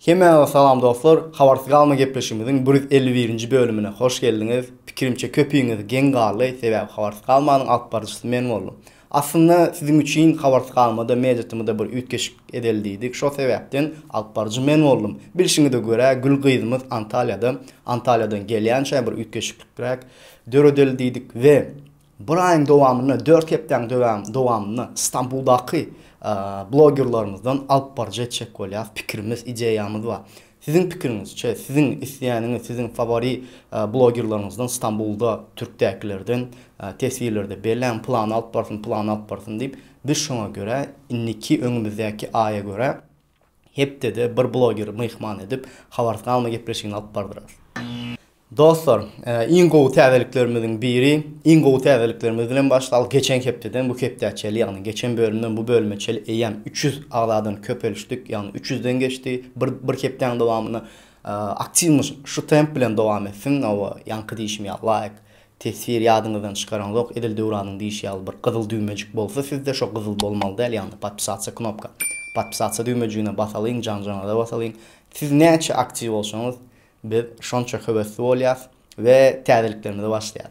Hemmäňize salam dostlar, Habarsyz galma gepleşigimiziň bir ýüz elli birinji bölümine hoş geldiňiz. Pikirimçe köpüňiz geň galdy, sebäbi Habarsyz galmanyň alyp baryjysy men boldum. Aslynda siziň üçin Habarsyz galmada mediatymyda bir üýtgeşik edeli diýdik, şo sebäpden alyp baryjy men boldum. Bilşiňize görä Gül gyzymyz Antalýada, Antalýadan gelýänçä bir üýtgeşiklikräk döredeli diýdik we Bir aýyň dowamynda, dört hepdäň dowamynda Stambuldaky blogerlarymyzdan alyp baryjy etjek bolýarys. Pikirimiz, ideýamyz bar. Siziň pikiriňizçe, siziň isleýäniňiz, siziň fawori blogerlaryňyzdan Stambulda, türkdäkilerden teswirlerde belläň, pylany alyp barsyn, pylany alyp barsyn diýip, biz şoňa görä, indiki, öňümizdäki aýa görä, hepdede bir blogeri myhman edip, habarsalma gepleşigini alyp bardyrys. Dostlar, iň gowy täzeliklerimiziň biri, iň gowy täzeliklerimiz bilen başlalyk, geçen hepdeden bu hepdä çeli, ýagny geçen bölümden bu bölüme çeli eýýäm üç ýüz agzadan köpelişdik, ýagny üç ýüzden geçdi, bir bir hepdäň dowamyna aktiwnyş şu temp bilen dowam etsin, hawa, ýaňky diýşim ýaly laýk, Teswir ýadyňyzdan çykaraňzok edil Döwranyň diýişi ýaly bir gyzyl düwmejik bolsa sizde şo gyzyl bolmaly däl ýagny podpisatsia knopka podpisatsia düwmejigine basalyň janjanaza basalyň siz näçe aktiw bolsaňyz biz şonça höwesli bolýas we täzeliklerimize başlaýas.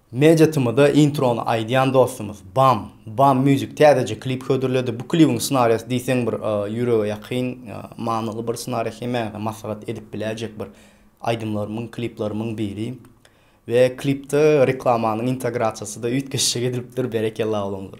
Media TM-da introny aýdýan dostumyz Bam Bam Music täzeje klip hödürledi. Bu klibiň ssenariýasy diýseň bir ýürege ýakyn, manyly bir ssenariýa hemäňize maslahat edip biläýjek bir aýdymlarymyň, kliplerimiň biri. We klipde reklamanyň integrasiýasy-da üýtgeşje edilipdir, berekella oglumdyr.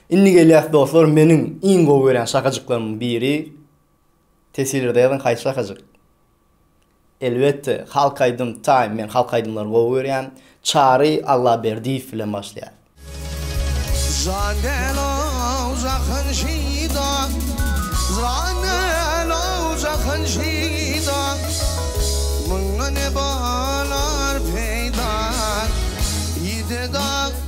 Indi gelýas dostlar meniň iň gowy görýän şakajyklarymyň biri tesvirlerde ýazyň haýsy şakajyk? Elbetde halk aýdym time men halk aýdymlary gowy görýän Çary Allaberdiýew bilen başlaýar. Jan däl-ow jahan şyda, Jan däl-ow jahan şyda, Mundan ne bolar peýda, Ýitedi-a.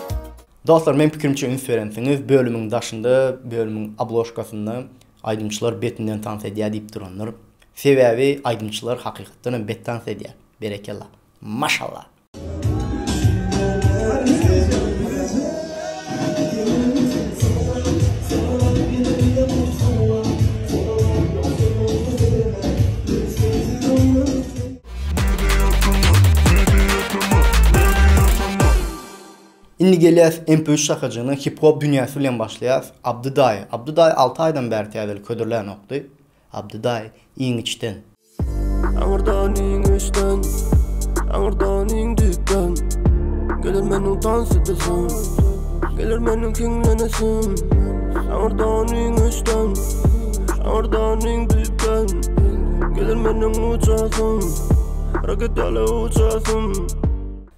Dostlar meň pikrimçe üns berensiňiz bölümiň daşynda bölümiň obložkasynda aýdymçylar betinden tans edýär diýip durandyr. Sebäbi aýdymçylar hakykatdan hem bet tans edýär. Berekella. Maşallah. Indi gelýäs MP üç şakajygyna hip hop dünýäsi bilen başlaýas Abdy daýy Abdy daýy alty aýdan bäri täzeli ködürlänokdy Abdy daýy iň içden. Aňyrdan iň içden Aňyrdan iň düýpden Geler meniň tans edesim Geler meniň hiňlenesim Aňyrdan iň içden Aňyrdan iň düýpden Geler meniň uçasym Raketaly uçasym.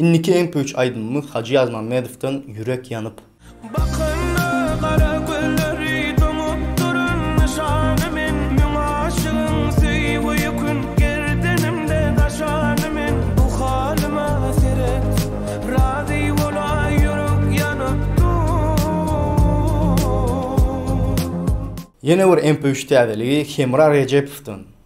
Indiki iň püç aýdymymyz Hajy Ýazmämmedowdan Ýürek ýanyp. Bakanda gara gözleri doňup durun nyşany men müň aşygyň söýgüi kün gerdenimde daşany men bu halyma seret razy bola ýürek ýanyp dur. Ýene bir iň püç täzeligi Hemra Rejepowdan.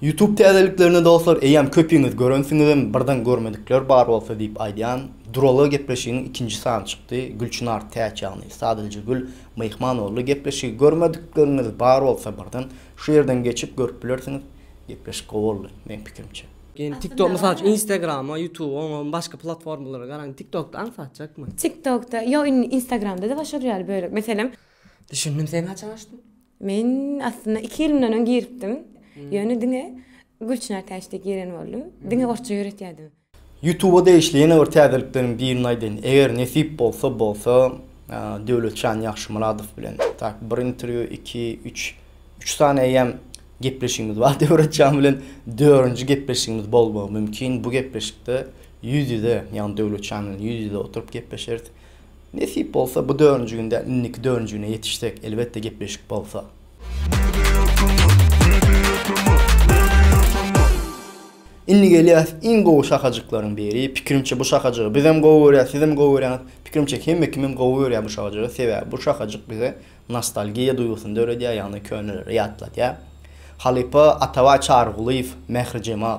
Youtube täzeliklerine dostlar eýýäm köpüňiz görensiňizem birden görmedikler bar bolsa diýip aýdýan Durala gepleşiginiň ikinji sany çykdy Gülçynar Täç ýagny Sadylja Gül myhman boldy gepleşigi görmedikleriňiz bar bolsa birden şu ýerden geçip görüp bilersiňiz gepleşik gowy boldy meň pikirimçe. Ýöne tik tok mysal üçin instagrama ýutuba oňa başga platformalara garaň tik tokda aňsatjakmy. Tik tokda ýok indi instagramda-da başarýar bölek meselem. Düşündim sen haçan açdyň. Men aslynda iki ýyl mundan öň giripdim. Ýöne diňe Gülçynar Täçde giren boldum. Diňe orsça ýöretýärdim. Ýutuba degişli ýene bir täzelikleriň birini aýdaýyn. Eger nesip bolsa bolsa Döwletjan Ýagşymyradow bilen tak bir interwýu, iki, üç, üç sany eýýäm gepleşigimiz bar Döwretjan bilen. Dörünji gepleşigimiz bolmagy mümkin. Bu gepleşikde ýüz-ýüze, ýagny Döwletjan bilen ýüz-ýüze oturyp gepleşeris. Nesip bolsa bu dörünji gün däl inniki dörünji güne ýetişsek elbetde gepleşik bolsa. Indi gelýäs iň gowy şahajyklaryň biri pikirimçe bu şahajygy bizem gowy görýäs sizem gowy görýäňiz pikirimçe hemme kimem gowy görýär bu şahajygy sebäbi bu şahajyk bize nostalgiýa duýgusyny döredýär ýagny könelere ýatladýar halypa Atabaý Çarygulyýew Mährijemal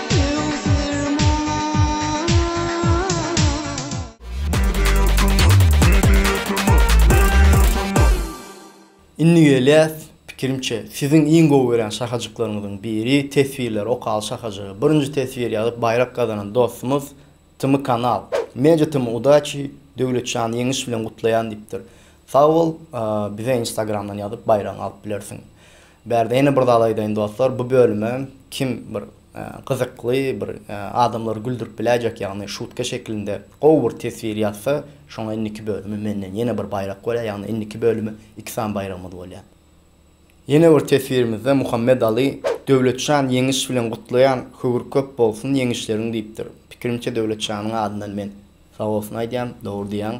Indi gelýäs pikirimçe siziň iň gowy görýän şahajyklaryňyzyň biri teswirleri okaly şahajygy birinji teswir ýazyp baýrak gazanan dostumyz Tm kanal. Media tm udaçi Döwletjan ýeňiş bilen gutlaýan diýipdir. Sag bol bize instagramdan ýazyp baýragyňy alyp bilersiň. Bärde ýene bir zat aýdaýyn dostlar bu bölüme kim bir gyzykly bir adamlary güldürip biläýjek ýagny şutka şekilinde gowy bir teswir ýazsa şoňa indiki bölümi menden ýene bir baýrak bolýar ýagny indiki bölümi iki sany baýragymyz bolýar. Ýene bir teswirimizde Muhammet Aly Döwletjan ýeňiş bilen gutlaýan höwür köp bolsun ýeňişleriň diýipdir. Pikirimçe Döwletjanyň adyndan men sag bolsun aýdýan, dogry diýýäň.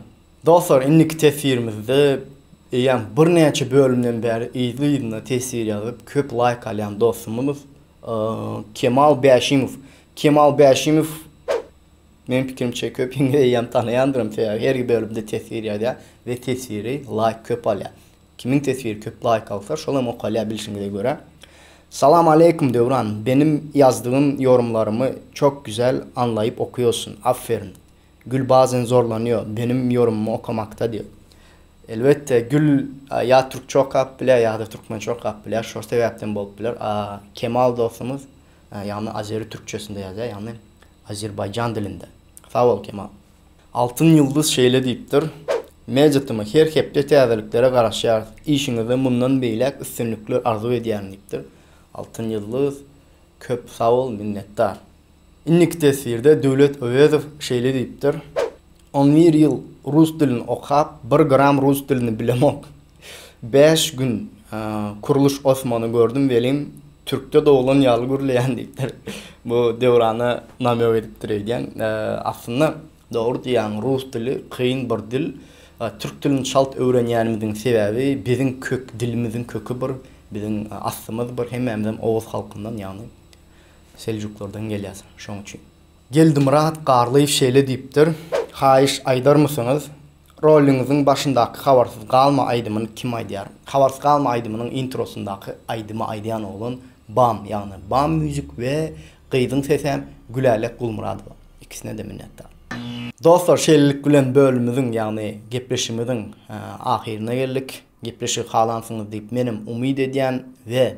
Dostlar indiki teswirimizde eýýäm birnäçe bölümden bäri yzly yzyna teswir ýazyp köp laýk alýan dostumyz Kemal Bäşimow. Kemal Bäşimow meň pikirimçe köpiňiz eýýäm tanaýandyrm sebäbi her bölümde teswir ýazýa we teswiri laýk köp alýa. Kimiň teswiri köp laýk alsa şol hem okalýar bilşiňize görä. Salam aleýkum Döwran benim ýazdygym ýorumlarymy çok güzel anlaýyp okuýosun afferin Gül bazen zorlanýo benim ýorumymy okamakda diýo elbetde Gül ýa türkçe okap bilýär ýada türkmençe okap bilýär şo sebäpden bolup biler a Kemal dostumyz ýagny azeri türkçesinde ýazýar ýagny azerbaýjan dilinde sag bol Kemal. Altyn ýulduz şeýle diýipdir, Mejitimi her hepde täzeliklere garaşýarys, işiňizde mundan beýläk üstünlikler arzuw edýärin diýipdir. Altyn ýulduz, köp sag bol, minnetdar. Indiki teswirde Döwlet Öwezow şeýle diýipdir, On bir ýyl rus dilini okap, bir gram rus dilini bilemok. Bäş gün Kurluş Osmany gördüm welin türkde doglan ýaly gürleýän diýipdir. Bu Döwrana namög edipdir öýdýän. Aslynda dogry diýýäň rus dili kyn bir dil. Türk dilini çalt öwrenýänimiziň sebäbi biziň kök dilimiziň köki bir, biziň aslymyz bir hemmämizem oguz halkyndan ýagny seljuklardan gelýäs şoň üçin. Geldimyrat Garlyýew şeýle diýipdir, Haýyş aýdarmysyňyz Roliňiziň başyndaky Habarsyz galma aýdymyny kim aýdýar? Habarsyz galma aýdymynyň introsyndaky aýdymy aýdýan oglan Bam, ýagny Bam Music we gyzyň sesem Gülälek Gulmyradowa. Ikisine-de minnetdar. Dostlar, şeýlelik bilen bölümiziň, ýagny gepleşigimiziň ahyryna geldik. Gepleşigi halansyňyz diýip menem umyt edýän we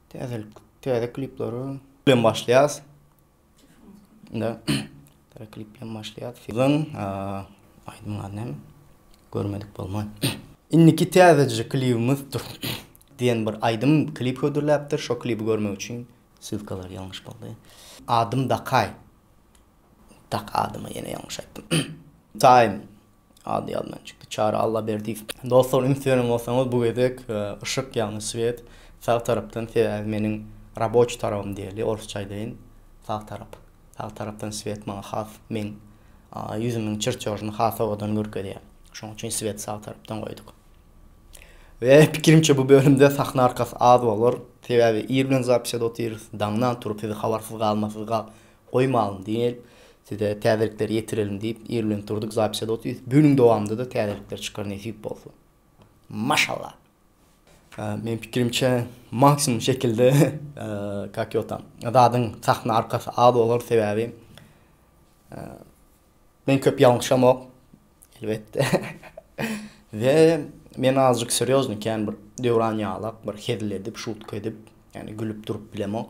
Täzelik täze klipleri bilen başlaýas. Indi täze klip bilen başlaýas. Sizin aýdymyň ady näme? Görmedik bolmaý. Indiki täzeje klibimiz dur diýen bir aýdym klip hödürläpdir. Şo klibi görmek üçin ssylkalar ýalňyş boldy. Adym Dakaý. Tak adymy ýene ýalňyş aýtdym. Taým ady ýadymdan çykdy. Çary Allaberdiýew. Dostlar üns beren bolsaňyz bu gezek yşyk ýagny swiet sag tarapdan sebäbi meniň raboçi tarabym diýeli orsça aýdaýyn sag tarap sag tarapdan swiet maňa has meň ýüzümiň çirçožyny has owadan görkezýär şoň üçin swiet sag tarapdan goýduk we pikirimçe bu bölümde sahna arkasy az bolar sebäbi ir bilen zapisede otyrys daňdan turup sizi habarsyz galma siz gal Goýmalyň diýip, size täzelikleri ýetirelim diýip irlenip durduk zapis ýa otuz günüň dowamynda-da täzelikler çykar nesip bolsa. Maşallah. Meň pikirimçe maksimum şekilde kak ýo tam. Zadyň sahna arkasy az bolar sebäbi men köp ýalňyşamok elbetde. We men azjyk serýoznyý kän bir Döwran ýalak bir hezil edip şutka edip ýagny gülüp durup bilemok.